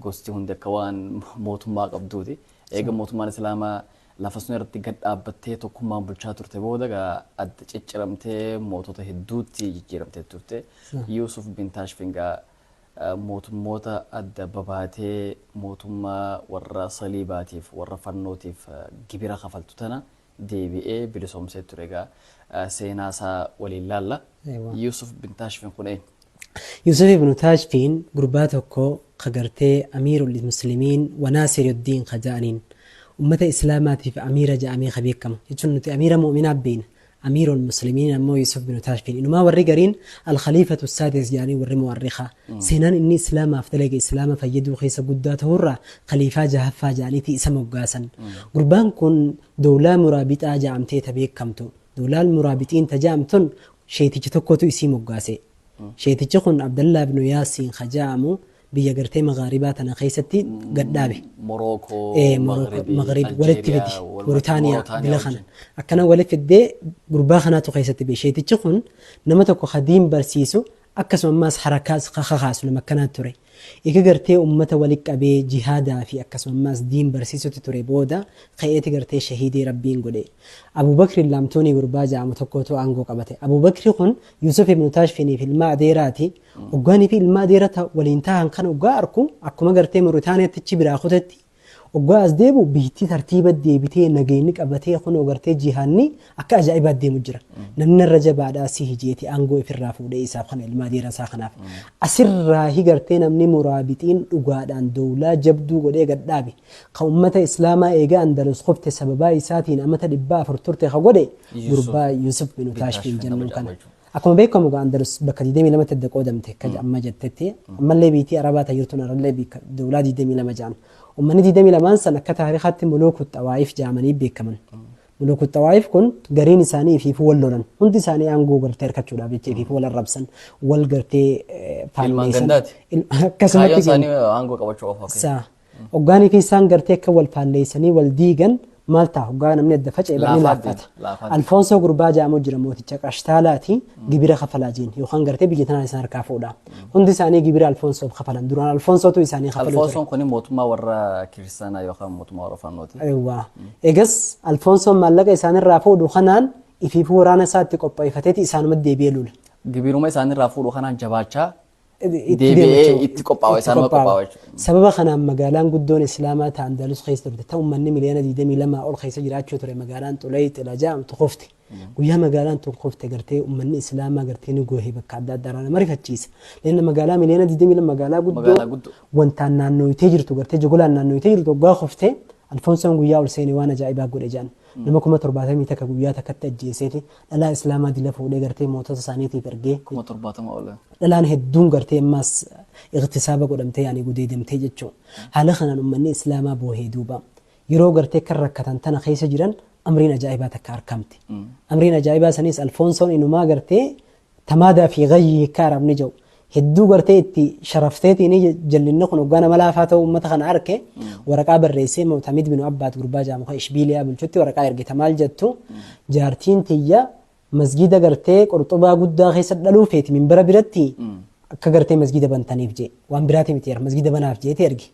Gosti hundi akka waan mootummaa qabduuti. Eega mootummaan Islaamaa lafa sun irratti gad dhaabbattee tokkummaan bulchaa turte booda egaa adda cicciramtee mootota hedduutti jijjiiramtee turte. Yuusuf bin Taashfin egaa eh, mootummoota adda babaatee mootummaa warra saliibaatiif warra fannootiif eh, gibira kafaltu tana deebi'ee bilisoomsee ture egaa eh, seenaa isaa waliin laalla. Eewwa. Yuusuf bin Taashfin kun eenyu? Yusuf ibn Taashfiin gurbaa tokko ka gartee Amiirul Muslimiin wa Naasiruddiin ka ja'aniin ummata Islaamaatiif Amiira ja'amee ka beekamu jechuun nuti Amiira Mu'minaa beeyna. Amiirul Muslimiin ammoo Yusuf bin Taashfiin. Inumaa warri gariin Al-Khaliifatu Saadis ja'anii warri Mu'arrikaa. Seenaan inni Islaamaaf dalage Islaama fayyaduu keessa guddaa ta'uurraa Khaliifaa jahaffaa ja'aniiti isa moggaasan. Gurbaan kun Dowlaa Muraabixaa ja'amtee ta beekkamtu. Dowlaan Muraabixiin ta ja'amtun sheeyticha tokkotu isii moggaase. Sheeytichi kun Abdallaa ibnu Yaasiin ka ja'amu biyya gartee Maghaaribaa tana keessatti gad dhaabe. Morookoo, Ee, Morooko, Maghribi, Maghrib walitti fidi. Aljeeriyaa, warra- Muritaaniyaa Mauritania bila kana. wajjin. Akkana walitti fiddee gurbaa kanaatu keessatti bee. Sheeytichi kun nama tokko ka diin barsiisu Akkasuma ammaas harakaas ka kakaasu nama akkanaa ture. Eega gartee ummata wali qabee jihaadaa fi akkasuma ammaas diin barsiisutti ture booda ka'eeti gartee shahiidii Rabbiin godhe. Abuu Bakriin Laamtuunii gurbaa ja'amu tokkootu aangoo qabate. Abuu Bakri kun Yuusuf ibnu Taashfiniif ilmaa adeeraati. Oggaanii fi ilmaa adeera ta waliin taahan kana oggaa arku akkuma gartee Muritaaniyaatti achi biraa kutetti Oggaa as deebi'u biyyitti tartiiba deebitee nageenyi qabatee kunoo gartee jihaanni akka ajaa'ibaa deemu jira. Namni narra jabaadhaa sihi jeeti aangoo ifirraa fuudhee isaaf kana ilmaa deeran isaa kanaaf. Asirraahi gartee namni muraabixiin dhugaadhaan dowlaa jabduu godhee gad dhaabe. Ka ummata islaamaa eega Andalus kufte sababaa isaatiin amata 400 turte ka godhe gurbaa Yusuf bin Utaashfiin jennuun kana. Akkuma beekamu egaa Andalus bakka 22 tti adda qoodamte akka amma jettetti ammallee biitii Arabaa ta jirtuun arallee bikka dowlaa 22 ja'an. Ummanni 22n san akka taarikaatti Muluuku Xawaayif ja'amanii beekaman. Muluuku Xawaayif kun gariin isaanii ifiifuu wal lolan. Hundi isaanii aangoo gartee arkachuudhaaf jecha ifiifuu wal arrabsan, wal gartee eh, Ilmaan faalleessan. gandaati. Il- Kaayyoon Akkasumatti isaanii aangoo qabachuu qofa. ok. Sa Hoggaanii fi isaan gartee akka wal faalleessanii wal diigan maal ta'a hoggaa namni adda faca'e barni Laafaa laaffata. deema, laafaa deema. Alfoonsoo gurbaa jaamoo jira mooticha qashtaalaati gibira kafalaa jeen yookaan gartee biyya tanaan isaan harkaa fuudha. Hundi isaanii gibira alfoonsoof kafalan duraan alfoonsootu isaanii kafaluu ture. Alfoonsoon kun mootummaa warra kiristaanaa yookaan mootummaa warra fannooti. Eewwaa. Egas alfoonsoon maallaqa isaanirraa fuudhu kanaan ifiifuu waraana isaatti qopheeffateeti isaanuma deebi'ee lula. Gibiruma isaanirraa fuudhu kanaan jabaachaa itti Deebi'ee deema jechuudha. itti qophaa'u, Itti isaanuma qophaa'u. qophaa'u jechuudha. Sababa kanaan magaalaan guddoon Islaamaa ta Andalus keessa turte ta uummanni miliyoona 22 ol keessa jiraachuu ture magaalaan Xulay Xila jedhamtu kufte. Guyyaa magaalaan tun kufte gartee uummanni Islaamaa gartee ni goohe bakka adda addaa irraa nama rifachiisa. Leenna magaalaa miliyoona 22 magaalaa guddoo Magaalaa guddoo. wantaan naannooyitee jirtu gartee jogolaan naannooyitee jirtu waggaa kufte Alfonsoon guyyaa ol seene waan ajaa'ibaa godhe jedhan. Nama kuma torbaatamii takka guyyaa takkatti ajjeeseeti dhalaa Islaamaa dila fuudhee gartee mootota isaaniitiif ergee. Kuma torbaatama ol. Dhalaan hedduun gartee ammaas ightisaaba godhamtee yaani gudeedamtee jechuu. Haala kanaan ummanni Islaamaa boohee duuba. Yeroo gartee akkan rakkatan tana keessa jiran amriin ajaa'ibaa takka arkamte. Amriin ajaa'ibaa saniis Alfonsoon inumaa gartee Tamaadaa fi gayyii hikkaa arabni ja'u hedduu gartee itti sharafteetiini jallinni kun hoggaa nama laafaa ta'uu ummata kana arke waraqaa barreessee mu'tamid binu abbaad gurbaa ja'amu ka ishbiiliyaa bulchutti waraqaa ergita maal jattu jaartiin tiyya masgiida gartee qurxubaa guddaa keessa dhaluu feeti minbara biratti akka gartee masgiida bantaniif jee waan biraati miti yer masgiida banaaf jeeti erge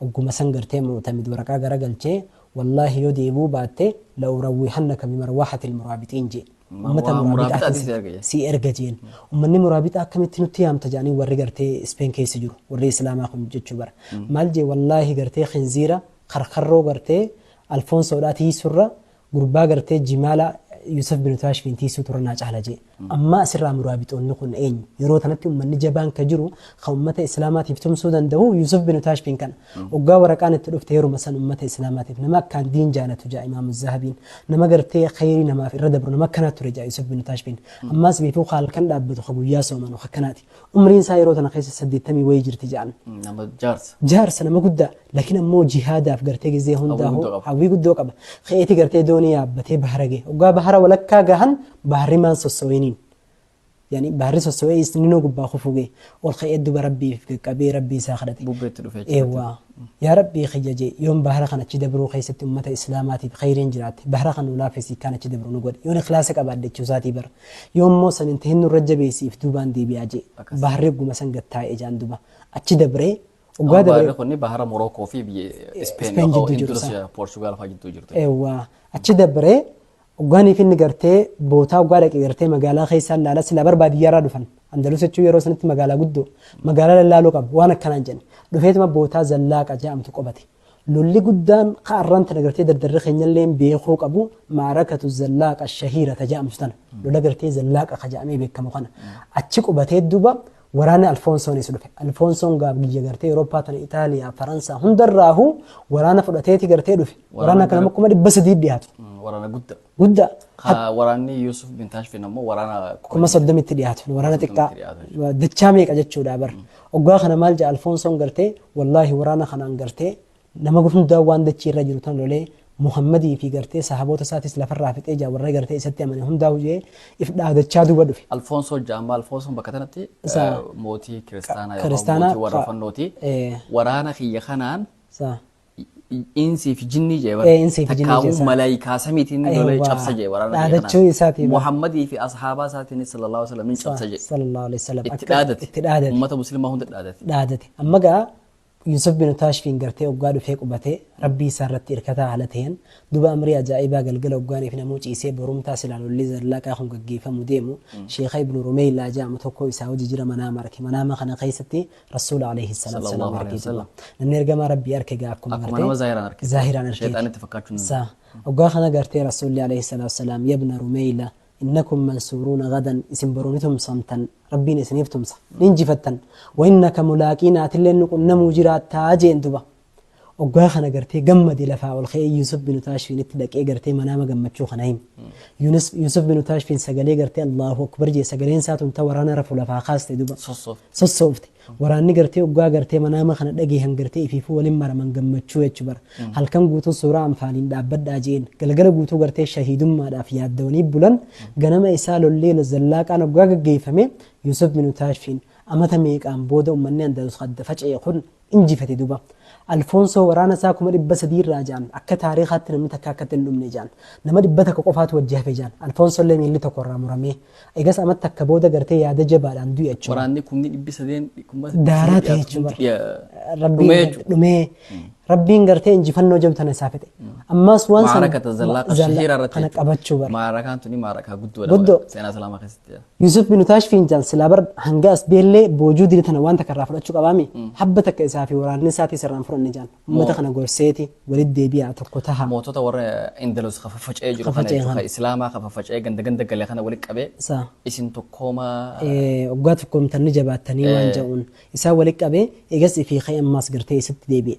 Ogguma san gartee Mu'tamid waraqaa garagalchee, Wallaahi yoo deebi'uu baatte, la'urawwihannaka bimarwahatil muraabixiin je'e. Ummata muraabixaatin si erga je'een. Ummanni muraabixaa akkamitti nutti yaamta je'anii warri gartee Ispeen keessa jiru, warri Islaamaa kun jechuu bar. Maal je'e, Wallaahi gartee khinziira, karkarroo gartee Alfoonsoodhaa tiiysurra, Gurbaa gartee jimaala Yuusuf bin Taashfiin tiisuu tura naa caala jee. Ammaa asirraa muraabixoonni kun eenyu? Yeroo tanatti ummanni jabaan ka jiru kan ummata Islaamaatiif tumsuu danda'u Yuusuf bin Taashfiin kana. Oggaa waraqaan itti dhufte yeruma san ummata Islaamaatiif nama akkaan diin jaalatu ja'a Imaamu Zahabiin. Nama gartee khayrii namaaf irra dabru nama akkanaa ture ja'a Yuusuf bin Taashfiin. Ammaas beekuu ka halkan dhaabbatu ka guyyaa soomanu ka akkanaati. Umriin isaa yeroo tana keessa saddeettamii wayii jirti ja'an. Nama jaarsa. Jaarsa nama guddaa. Lakin ammoo jihaadaaf gartee gizee hundaahuu hawwii guddoo qaba. Ka'eeti gartee doonii yaabbatee bahara gahe. Oggaa bahara walakkaa gahan baharri maan sossoweeniin. Yani baharri sossowee isninuu gubbaa kufuu gahe. Ol ka'ee duba rabbiif gaqqabee rabbii isaa kadhate. Bubbeetti dhufe jechuudha. Eewwaa. Yaa rabbii kiyya jee yoon bahara kan achi dabruu keessatti ummata islaamaatiif khayriin jiraatte bahara kan nu laafessi ikkaan achi dabru nu godhi. Yoon ikhlaasa qabaadde jechuu isaatii bar. Yoo immoo san hin tahin nurra jabeessi if duubaan deebi'aa jee. Baharri ogguma san gad taa'e ijaan duba. Achi dabree Amma Waggaa baarri dabre kun bahara Morookoo fi biyya Ispeen Ispeen yookaan jidduu jiru Indonesiya, sana. Poorchugaal fa'aa jidduu jirtu. Eewwaa. Achi dabree waggaanii fi inni gartee bootaa waggaa dhaqe gartee magaalaa keessaan laala silaa bar baadiyyaarraa dhufan. Andalus jechuun yeroo sanatti magaalaa guddoo magaalaa lallaaloo qabu waan akkanaan jedhan. Dhufeetuma bootaa zallaaqa jedhamtu qobate. Lolli guddaan ka arraan tana gartee dardarri keenyalleen beekuu qabu maarakatu zallaaqa shahiira ta ja'amtu tana. Lola gartee zallaaqa ka ja'amee beekamu kana. Achi qubatee duuba waraanni Alfoonsoonis dhufe. Alfoonsoon gaaf biyya gartee Awurooppaa tana Itaaliyaa, Faransaa hundarraahu waraana fudhateeti gartee dhufe. Waraana Waraana kana nama gara- kuma dhibba sadii dhiyaatu. Mm, Waraana guddaa. Guddaa. Ka waraanni Yuusuf bin Taashfin ammoo waraana kuma soddomitti dhiyaatu waraana xiqqaa dachaa meeqa jechuudha bar oggaa kana maal jedha alfoonsoon gartee wallaahi waraana kanaan gartee nama hundaa waan dachii irra jiru tan lolee muhammadii fi gartee sahaboota isaatis lafarraa fixee jaa warra gartee isatti amane hundaa hujee if dhaadachaa duuba dhufe. Alfoonsoo jaammaa Alfoonsoon bakka tanatti Isa- eh, mootii kiristaanaa yookaan kiristaanaa mootii warra ka- fannooti. eh. Waraana kiyya kanaan Sa- Insi fi jinnii jee bara. Ee, insii fi jinnii Takkaawuu jeessa. malaayikaa samiitiin ni lolee Eewwa. cabsa jee waraana biyya Dhaadachuu kanaas. isaatii bara. Muhammadii fi ashaabaa isaatiin sallallahu alaihi wasallam ni cabsa jee. sallallahu alaihi wasallam Itti akka- dhaadate. itti dhaadate Ummata muslimaa hunda dhaadate. dhaadate amma gaa Yusuf bin Taashfiin gartee oggaa dhufee qubatee rabbii isaa irratti hirkataa haala ta'een duba amrii ajaa'ibaa galgala oggaaniif namuu ciisee borumtaa silaan olli zallaqaa kun gaggeeffamu deemu sheekha ibnu rumeeylaa jedhamu tokko isaa hojii jira manaa marke manaama kana keessatti Rasuula alayhi salaatu Sallallahu salaam alayhi argeeti. wasallam. Namni ergamaa Rabbii arke egaa akkuma Akkuma nama zaahiraan arke. zaahiraan argeeti. Shayxaan itti fakkaachuu hin Sa oggaa kana gartee Rasuulli alayhi salaatu salaam yabna rumeeyla innakum mansuuruuna gadan isin boruu ni tumsamtan Rabbiin isiniif tumsa ni injifattan wa innaka mulaaqiina atillee nu qunnamuu jiraattaa jeen duba. Oggaa kana gartee gammade lafaa ol ka'ee Yuusuf binu Taashfiinitti dhaqee gartee manaama gammachuu kana hime. Yuunus- Yuusuf binu Taashfiin sagalee gartee Allaahu Akbar jee sagaleen isaa tun ta waraana rafu lafaa kaaste duba. Sossoofte. sossoofte waraanni gartee oggaa gartee manaama kana dhageehan gartee ifiifuu waliin maraman gammachuu jechu bara halkan guutuu suuraa anfaaliin dhaabbadhaa jeen galgala guutuu gartee shahiidummaadhaaf yaaddawanii bulan ganama isaa lollee zallaaqaan oggaa gaggeeffame yuusuf binu taashfiin amata meeqaan booda ummanni andaluus adda faca'e kun injifate duba. Alfoonsoo waraana isaa kuma dhibba sadii irraa ja'an akka taariikaatti namni takka akkatti hin dhumne ja'an. Nama dhibba takka qofaatu wajji hafe ja'an. Alfoonsoo illee miilli tokko irraa muramee. Eegas amat takka booda gartee yaada jabaadhaan du'e achuma. Waraanni kumni dhibbi sadeen kuma sadii Daaraa ta'e dhiyaatu jechuudha. kumti dhiya- Rabbiin dhumee gar- jechuudha. dhumee. Rabbiin gartee injifannoo jabdu tana isaa fedhe. Ammaas waan sana Maarakata zallaa zalla- shahiira irratti kana jechuudha. qabachuu bara. Maarakaan tuni maarakaa guddoodha. Guddoo. Seenaa Islaamaa keessatti. Yusuf bin Utaash Fiinjaan silaa bar hanga as beellee boojuu dide tana waan takka irraa fudhachuu qabaami. Habba takka isaa fi waraanni isaatii sirraan fudhanne jaan. Uummata kana gorseeti walitti deebi'aa tokko taha. Mootota warra Indalus ka faffaca'ee jiru Ka kana faca'e jechuudha. kana. Ka Islaamaa ka faffaca'ee ganda ganda gale kana walitti qabee Isaa. isin tokkoomaa Eh, Waggaa tokkoomtan ni jabaattanii waan ja'uun. Isaa walitti qabee eegas ifii ka'e ammaas gartee isitti deebi'e.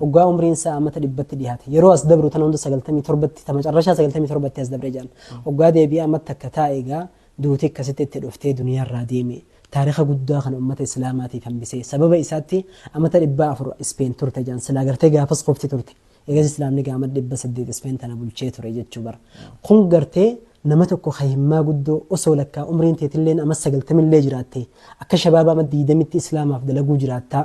Oggaa umriin isaa ammata dhibbatti dhiyaate. Yeroo as dabru tana hunda sagaltamii torbatti, ta macarrashaa sagaltamii torbatti as dabre jedhan. Oggaa deebi'ee ammatti akka taa'e egaa duuti akkasitti itti dhuftee duniyaarraa deeme. Taarika guddaa kana ummata Islaamaatiif hambise. Sababa isaatti ammata dhibbaa afur Ispeen turte jedhan. Silaa gartee gaafas qofti turte. Eegas Islaamni egaa ammata dhibba saddeet Ispeen tana bulchee ture jechuu bara. Kun gartee nama tokko ka himmaa guddoo osoo lakkaa umriin teetilleen amma sagaltamillee jiraatte akka shabaaba amma diidamitti Islaamaaf dalaguu jiraattaa.